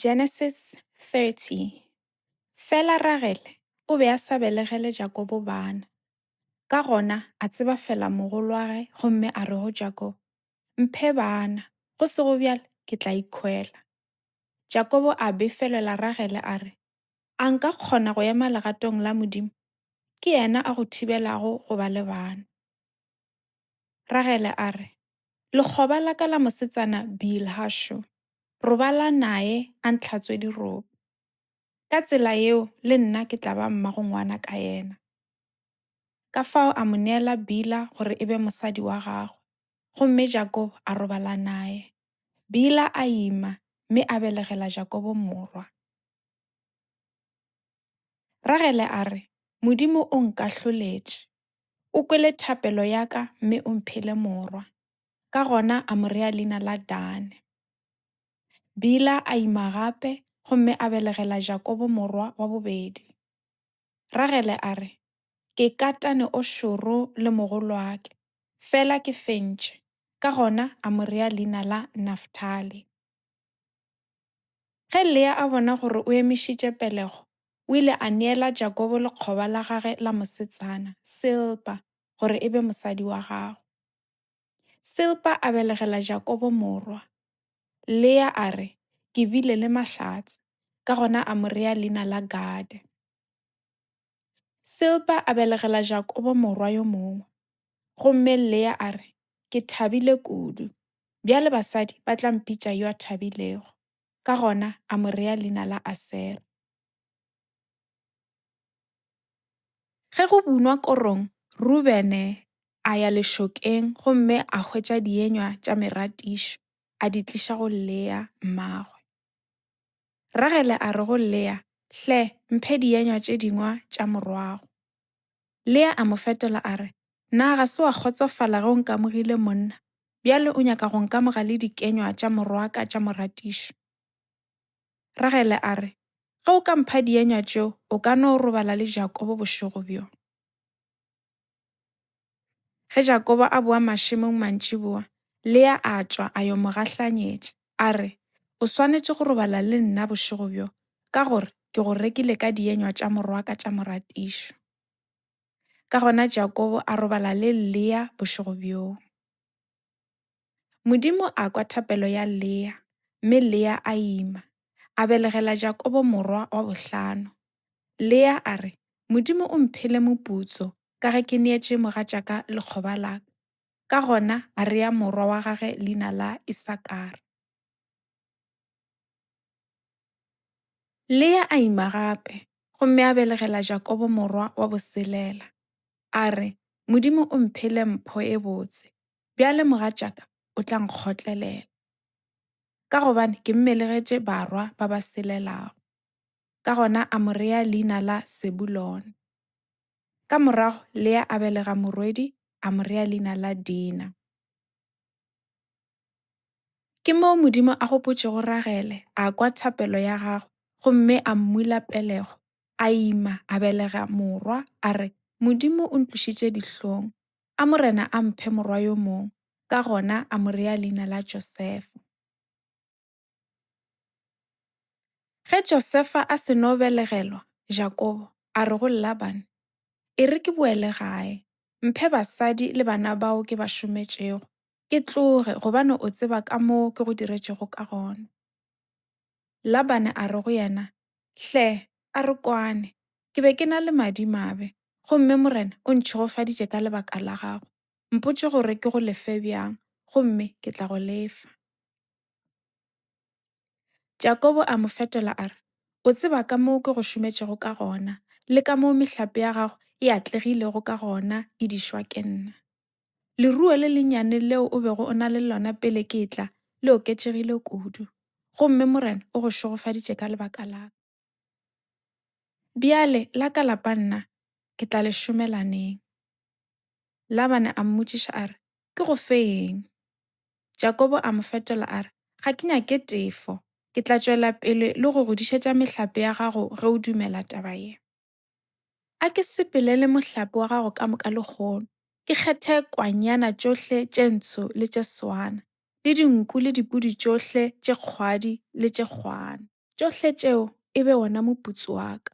Genesis 30 Fela Ragele o be a sa belegele Jakobo bana. Ka gona a tseba fela mogolwage gomme a re go Jakobo, Mphe bana, go sego bjale ke tla ikhwela. Jakobo a befelela Ragele a re, A nka kgona go ema legatong la Modimo? Ke yena a go thibelago go ba le bana. Ragele a re, Lekgoba la ka la mosetsana Bilha šo robala naye a ntlhatswe dirope. Ka tsela yeo le nna ke tla ba mmagongwana ka yena. Ka fao a mo neela Bila gore e be mosadi wa gagwe, gomme Jakobo a robala naye. Bila a ima mme a belegela Jakobo morwa. Ragele a re, Modimo o nkahloletše. O kwele thapelo ya ka mme o mphile morwa. Ka gona a mo rea leina la Dane. Bila a ima gape gomme a belegela Jakobo morwa wa bobedi. Ragele a re, Ke katane o šoro le mogolwake, fela ke fentše, ka gona a mo rea leina la Naftali. Ge Lea a bona gore o emišitše pelego, o ile a neela Jakobo lekgoba la gagwe la mosetsana, Silpa, gore e be mosadi wa gagwe. Silpa a belegela Jakobo morwa. Lea a re, Ke bile le mahlatse, ka gona a mo rea leina la Gade. Silpa a belegela Jakobo morwa yo mongwe. Gomme Lea a re, Ke thabile kudu. Bjale basadi ba tla mpitša yo a thabilego. Ka gona a mo rea leina la Asera. Ge go bunwa korong, Rubene a ya lešokeng gomme a hwetša dienywa tša meratišo, a di tliša go Lea mmagwe. Ragele a re go Lea, Hle, mphe dienywa tše dingwa tša morwago. Lea a mo fetola a re, Na ga se wa kgotsofala ge o nkamogile monna, bjale o nyaka go nkamoga le dikenywa tša morwaka tša moratišo? Ragele a re, Ge o ka mpha dienywa tšeo, o ka no robala le Jakobo bošego bjo. Ge Jakobo a boa mašemong mantšiboa, Lea a tšwa a yo mo gahlanyetša, a re, O swanetše go robala le nna bošego bjo, ka gore ke go rekile ka dienywa tša morwaka tša moratišo. Ka gona Jakobo a robala le Lea bošego bjoo. Modimo a kwa thapelo ya Lea, mme Lea a ima, a belegela Jakobo morwa wa bohlano. Lea a re, Modimo o mphile moputso ka ge ke neetše mogatšaka lekgoba la ka. Ka gona a rea morwa wa gagwe leina la Isakara. Lea a ima gape gomme a belegela Jakobo morwa wa boselela. A re, Modimo o mphile mpho e botse, bjale mogatšaka o tla nkgotlelela. Ka gobane ke mmelegetše barwa ba ba selelago. Ka gona a mo rea leina la Sebulone. Ka morago Lea a belega morwedi a mo rea leina la Dina. Ke moo Modimo a gopotšego Ragele, a kwa thapelo ya gagwe, gomme a mmula pelego, a ima, a belega morwa, a re, Modimo o ntlošitše dihlong, a Morena a mphe morwa yo mongwe, ka gona a mo rea leina la Josefa. Ge Josefa a seno belegelwa Jakobo, a re go Labane, E re ke boele gae, mphe basadi le bana bao ke ba šometšego, ke tloge, gobane o tseba ka moo ke go diretšego ka gona. Labane a re go yena, Hle, a re kwane, ke be ke na le madimabe, gomme Morena o ntšhegofaditše ka lebaka la gago. Mpotše gore ke go lefe bjang, gomme ke tla go lefa. Jakobo a mo fetola a re, O tseba ka moo ke go šometšego ka gona le ka moo mehlape ya gago e atlegilego ka gona e di šwa ke nna. Leruo le lennyane leo o bego o na le lona pele ke tla le oketšegile kudu, gomme Morena o go šogofaditše ka lebaka la ka. Bjale la ka lapa nna ke tla le šomela neng? Labane a mmotšiša a re, Ke go fe eng? Jakobo a mo fetola a re, Ga ke nyake tefo. Ke tla tšwela pele le go godišetša mehlape ya gago ge o dumela taba ye. A ke sepelele mohlape wa gago ka moka lehono, ke kgethe kwanyana tšohle tše ntsho le tše swana, le dinku le dipudi tšohle tše kgwadi le tše kgwana. Tšohle tšeo e be wona moputso wa ka.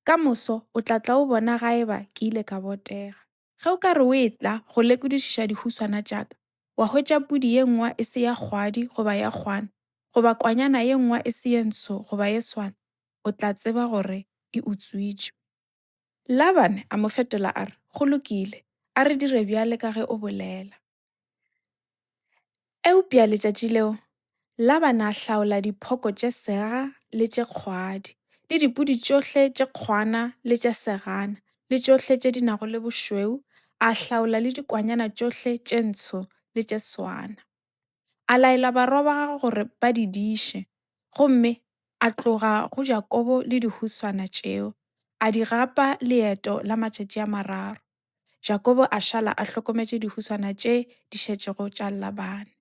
Ka moso o tla tla o bona ga eba ke ile ka botega. Ge o ka re o etla go lekodišiša dihuswana tša ka, wa hwetša pudi ye nngwa e se ya kgwadi goba ya kgwana, goba kwanyana ye nngwa e se ye ntsho goba ye swana, o tla tseba gore e utswitšwe. Labane a mo fetola a re, Go lokile, a re dire bjale ka ge o bolela. Eupša letšatši leo Labana a hlaola diphoko tše sega le tše kgwadi, le dipudi tšohle tše kgwana le tše segana, le tšohle tše di nago le bošweu, a hlaola le dikwanyana tšohle tše ntsho le tše swana. A laela barwa ba gagwe gore ba di diše, gomme a tloga go Jakobo le dihuswana tšeo, a di gapa leeto la matšatši a mararo. Jakobo a šala a hlokometše dihuswana tše di šetšego tša Labane.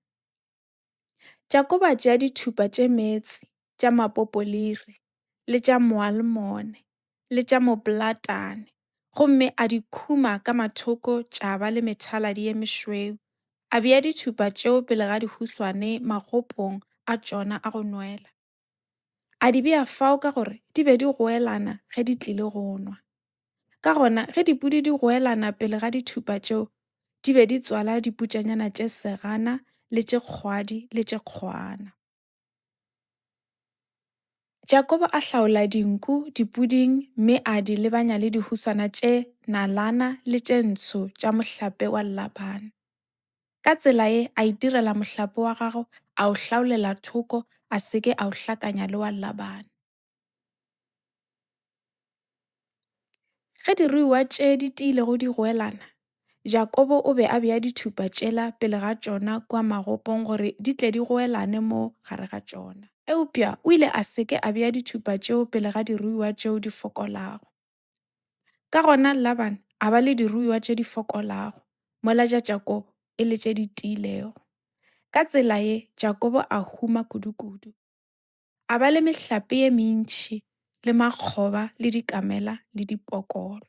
Jakobo a tšea dithupa tše meetse tša mapopoliri le tša moalmone le tša moplatane gomme a di khuma ka mathoko tša ba le methaladi ye mešweu a bea dithupa tšeo pele ga dihuswane magopong a tšona a go nwela. A di bea fao ka gore di be di goelana ge di tlile go nwa. Ka gona, ge dipudi di goelana pele ga dithupa tšeo, di be di tswala diputšanyana tše segana le tše kgwadi le tše kgwana. Jakobo a hlaola dinku dipuding mme a di lebanya le dihuswana tše nalana le tše ntsho tša mohlape wa Labana. Ka tsela ye a itirela mohlape wa gago, a o hlaolela thoko, a se ke a o hlakanya le wa Labane. Ge diruiwa tše di tiile go di goelana, Jakobo o be a bea dithupa tšela pele ga tšona kua magopong gore di tle di goelane mo gare ga tšona. Eupša o ile a se ke a bea dithupa tšeo pele ga diruiwa tšeo di fokolago. Ka gona Laban a ba le diruiwa tše di fokolago, mola tša Jakobo e le tše di tiilego. Ka tsela ye, Jakobo a huma kudu-kudu. A ba le mehlape ye mentši le makgoba le dikamela le dipokolo.